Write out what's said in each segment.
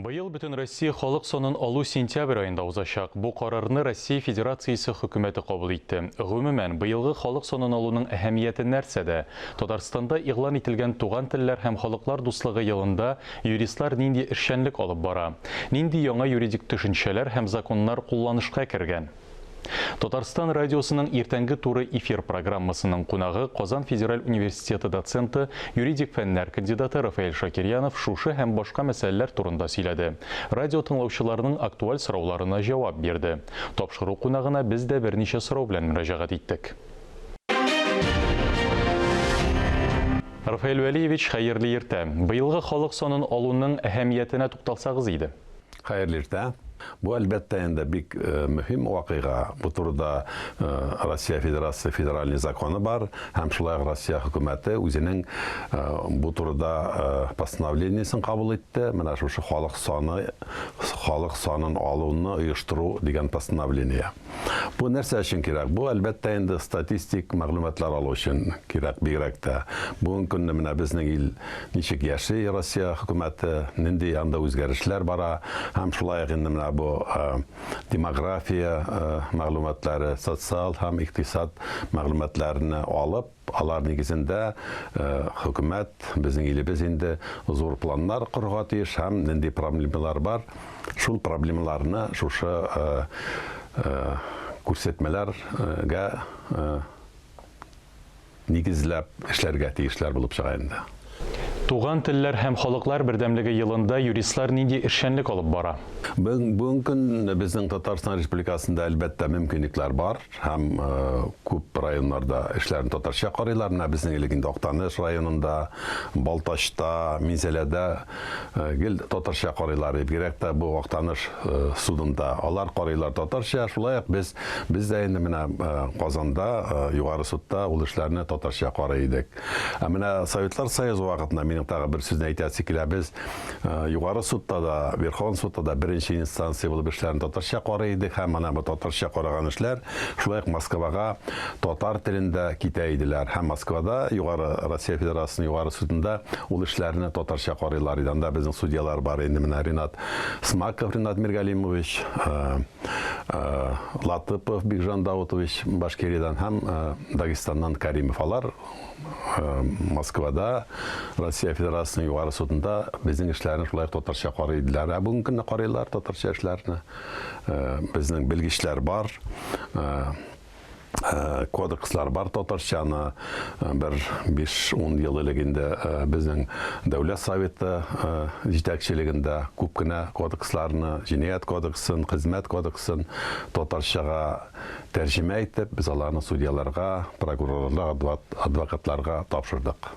Быел Бөтенроссия халык санын алу сентябрь аенда узачак. Бу карарны Россия Федерациясе Хөкүмәте кабул итте. Гомумән, быелгы халык санын алуның әһәмияте нәрсәдә? Татарстанда игълан ителгән Туган телләр һәм халыклар дуслыгы елында юристлар нинди эшчәнлек алып бара? Нинди яңа юридик төшенчәләр һәм законнар кулланышка кергән? Татарстан радиосының иртәнге туры эфир программасының кунагы Казан федераль университеты доценты, юридик фәннәр кандидаты Рафаэль Шакирьянов шушы һәм башка мәсьәләләр турында сөйләде. Радио тыңлаучыларының актуаль сорауларына җавап бирде. Тапшыру кунагына без дә берничә сорау белән мөрәҗәгать иттек. Рафаэль Вәлиевич, хәерле иртә! Быелгы халык санын алуның әһәмиятенә тукталсагыз иде. Хәерле иртә. Бу әлбәттә инде бик мөһим вакыйга. Бу турыда Россия Федерация федеральный законы бар һәм шулай ук Россия хөкүмәте үзенең бу турыда постановлениесен кабул итте. Менә шушы халык саны халык санын алуны оештыру дигән постановление. Бу нәрсә өчен кирәк? Бу, әлбәттә инде, статистик мәгълүматлар алу өчен кирәк бигрәк тә. Бүген көнне менә безнең ил ничек яши, Россия хөкүмәте, нинди анда үзгәрешләр бара, һәм шулай ук инде менә бу демография мәгълүматлары, социаль һәм икътисад мәгълүматларны алып, Алар нигезендә хөкүмәт, безнең илебез инде зур планнар корырга тиеш һәм нинди проблемалар бар, шул проблемаларны шушы күрсәтмәләргә нигезләп эшләргә тиешләр булып чыга инде. Туган телләр һәм халыклар бердәмлеге елында юристлар нинди эшчәнлек алып бара? Бүгенге көн безнең Татарстан Республикасында, әлбәттә, мөмкинлекләр бар һәм күп районнарда эшләрне татарча карыйлар. Менә безнең элек инде Актаныш районында, Балтачта, Минзәләдә гел татарча карыйлар иде. Бигрәк тә бу Актаныш судында алар карыйлар татарча. Шулай ук без, без дә инде менә Казанда, Югары судта ул эшләрне татарча карый идек. Ә менә Советлар Союзы вакытында минем тагы бер сүзне әйтәсе килә. Без э, Югары судта да, Верховен судта да беренче инстанция булып эшләрен татарча карый идек һәм ана бу татарча караган эшләр шулай ук Москвага татар телендә китә иделәр. Һәм Москвада Югары Россия Федерациясенең Югары судында ул эшләрне татарча карыйлар иде. Анда безнең судьялар бар инде менә Ренат Смаков, Ренат Миргалимович, э, э, Латыпов Бигжан Даутович Башкириядән һәм Дагестаннан Каримов алар Москвада Россия Федерациясенең югары судында безнең эшләрне шулай татарча карый иделәр. Ә бүгенге көнне карыйлар татарча эшләрне. Безнең белгечләр бар. Э, кодекслар бар татарчаны э, бер 5-10 ел элек инде э, безнең дәүләт советы җитәкчелегендә күп кенә кодексларны җинаять кодексын хезмәт кодексын татарчага тәрҗемә итеп, без аларны судьяларга, прокурорларга, адвокатларга тапшырдык.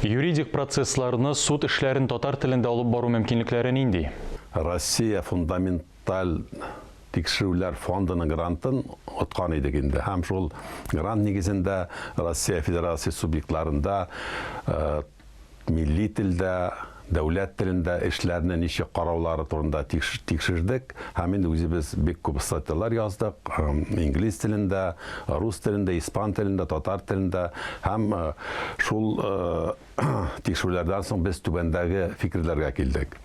Юридик процессларны, суд эшләрен татар телендә алып бару мөмкинлекләре нинди? Россия фундаменталь тикшерүләр фондының грантын откан идек инде һәм шул грант нигезендә Россия Федерация субъектларында милли телдә, дәүләт телендә эшләрне ничек караулары турында тикшердек һәм инде үзебез бик күп статьялар яздык, инглиз телендә, рус телендә, испан телендә, татар телендә һәм шул тикшерүләрдән соң без түбәндәге фикерләргә килдек.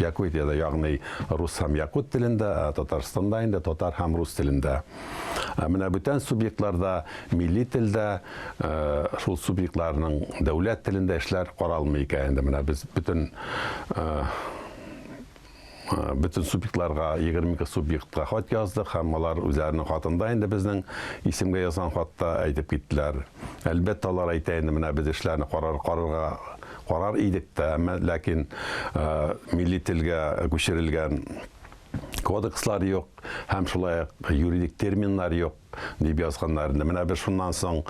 Якутиядә, ягъни рус һәм якут телендә, ә Татарстанда инде татар һәм рус телендә. Ә менә бүтән субъектларда милли телдә, шул субъектларның дәүләт телендә эшләр каралмый икән инде. Менә без бөтен бөтен субъектларга, 22 субъектка хат яздык һәм алар үзләренең хатында инде безнең исемгә язган хатта әйтеп киттеләр. Әлбәттә, алар әйтә инде, менә без эшләрне карар, карарга Карар идек тә, әмма ләкин милли телгә күчерелгән кодекслар юк һәм шулай ук юридик терминнар юк, дип язганнар инде. Менә без шуннан соң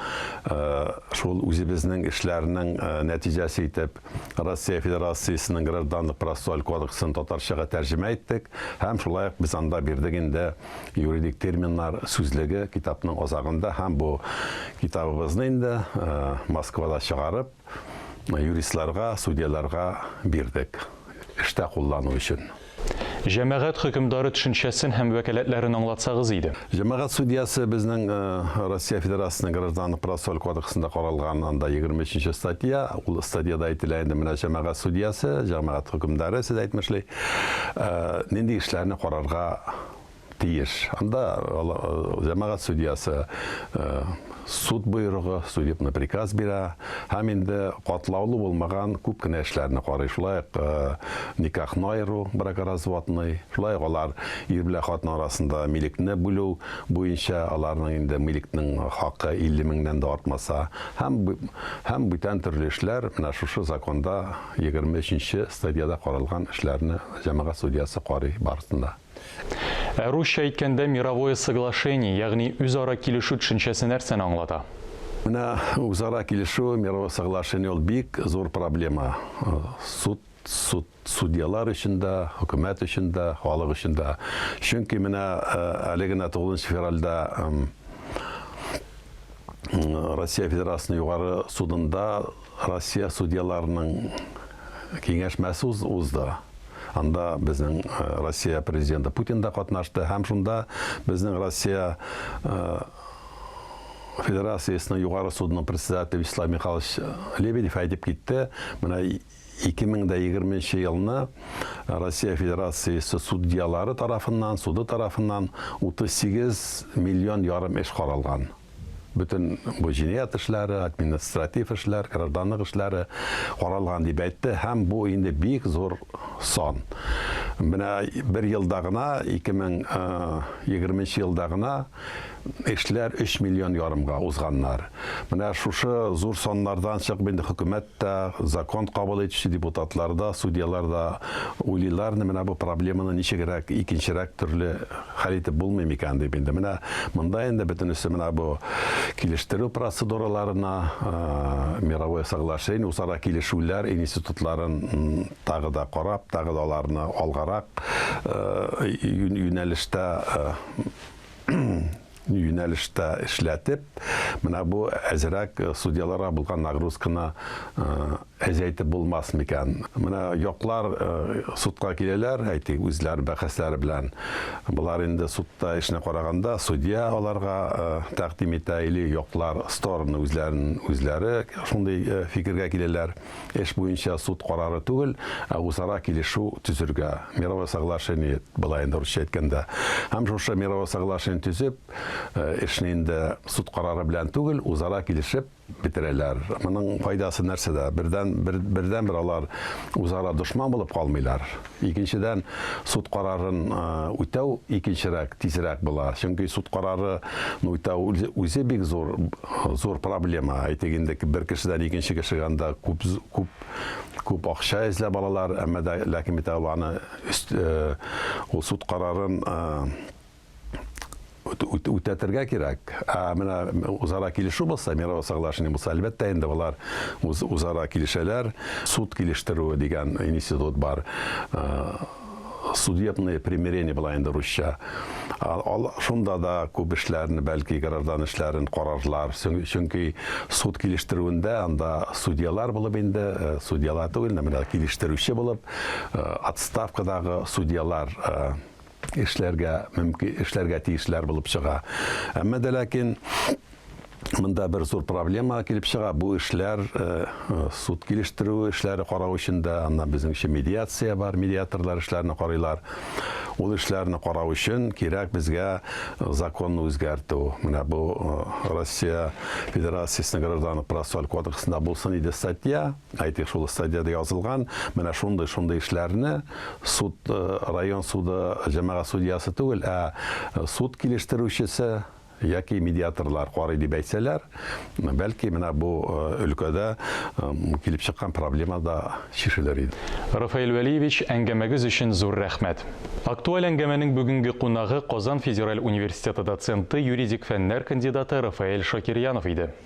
шул үзебезнең эшләрнең нәтиҗәсе итеп Россия Федерациясенең Гражданлык процессуаль кодексын татарчага тәрҗемә иттек һәм шулай ук без анда бирдек инде юридик терминнар сүзлеге китапның азагында һәм бу китабыбызны инде Москвада чыгарып юристларга, судьяларга бирдек, эштә куллану өчен. Җәмәгать хөкемдары төшенчәсен һәм вәкаләтләрен аңлатсагыз иде. Җәмәгать судьясы безнең Россия Федерациясенең Гражданлык процессуаль кодексында каралган анда 23 статья, ул статьяда әйтелә инде менә җәмәгать судьясы, җәмәгать хөкемдары, сез әйтмешли, нинди эшләрне карарга тиеш. Анда җәмәгать судьясы суд боерыгы, судебный приказ бирә һәм инде катлаулы булмаган күп кенә эшләрне карый. Шулай ук никахны аеру, бракоразводный, шулай ук алар ир белән хатын арасында милекне бүлү буенча аларның инде милекнең хакы 50 меңнән дә артмаса һәм һәм бүтән төрле эшләр менә шушы законда 23 нче стадиядә каралган эшләрне җәмәгать судьясы карый барысын да. Ә русча әйткәндә мировое соглашение, ягъни үзара килешү төшенчәсе нәрсәне аңлата? Менә үзара килешү, мировое соглашение ул бик зур проблема. Суд суд судьялар өчен дә, хөкүмәт өчен дә, халык өчен дә. Чөнки менә э, әле генә 9 февральдә Россия Федерациясенең югары судында Россия судьяларының киңәшмәсе узды. Анда безнең э, Россия президенты Путин да катнашты һәм шунда безнең Россия э, Федерациясенең югары судының председателе Вячеслав Михайлович Лебедев әйтеп китте, менә 2020 елны Россия Федерациясе судьялары тарафыннан, суды тарафыннан 38 миллион ярым эш каралган. Бөтен бу җинаять эшләре, административ эшләр, гражданлык эшләре каралган, дип әйтте һәм бу инде бик зур сан. Менә бер елда гына, 2020 нче елда гына эшләр 3 миллион ярымга узганнар. Менә шушы зур саннардан чыгып инде хөкүмәт тә, закон кабул итүче депутатлар да, судьялар да уйлыйларны менә бу проблеманы ничегрәк икенчерәк төрле Хәл итеп булмый микән дип инде. Менә монда инде бөтенесе менә бу килештерү процедураларына, мировое соглашение, усара килешүләр институтларын тагы да карап, тагы да аларны алгарак юнәлештә юнәлештә эшләтеп, менә бу әзерәк судьяларга булган нагрузканы әзәйтеп булмас микән? Менә яклар судка киләләр, әйтик, үзләр бәхәсләре белән. Болар инде судта эшне караганда, судья аларга тәкъдим итә или яклар стороны үзләрен үзләре шундый фикергә киләләр. эш буенча суд карары түгел, ә үзара килешү төзергә, мировое соглашение, болай инде урысча әйткәндә. Һәм шушы мировое соглашение төзеп, эшне инде суд карары белән түгел, үзара килешеп бетерәләр. Моның файдасы нәрсәдә? Бердән бер бердән бер алар үзара дошман булып калмыйлар. Икенчедән, суд карарын үтәү икенчерәк, тизрәк була. Чөнки суд карары үтәү үзе бик зур, зур проблема. Әйтик инде, бер кешедән икенче кешегә анда күп, күп, күп акча эзләп алалар, әмма да, ләкин бит аны, ул суд карарын, үтәтергә кирәк. Ә менә узара килешү булса, мировое соглашение булса, әлбәттә инде болар үз узара килешәләр. Суд килештерүе дигән институт бар. Судебные примирения була инде русча. Ал шунда да күп эшләрне, бәлки граждан эшләрен карарлар. Чөнки суд килештерүендә анда судьялар булып инде, судьялар түгел, менә килештерүче булып отставкадагы судьялар эшләргә мөмкин, эшләргә тиешләр булып чыга. Әмма дә ләкин Монда бер зур проблема килеп чыга. Бу эшләр э, э, суд килештерү эшләре карау өчен дә, аннан безнеңчә медиация бар, медиаторлар эшләрне карыйлар. Ул эшләрне карау өчен кирәк безгә э, законны үзгәртү. Менә бу Россия Федерациясенең гражданлык процессуаль кодексында булсын иде статья. Әйтик, шул стадиядә язылган менә шундый, шундый эшләрне суд, район суды, җәмәгать судьясы түгел, ә суд килештерүчесе яки медиаторлар карый дип әйтсәләр, бәлки менә бу өлкәдә килеп чыккан проблема да чишелер иде. Рафаэль Вәлиевич, әңгәмәгез өчен зур рәхмәт. Актуаль әңгәмәнең бүгенге кунагы Казан федераль университеты доценты, юридик фәннәр кандидаты Рафаэль Шакирьянов иде.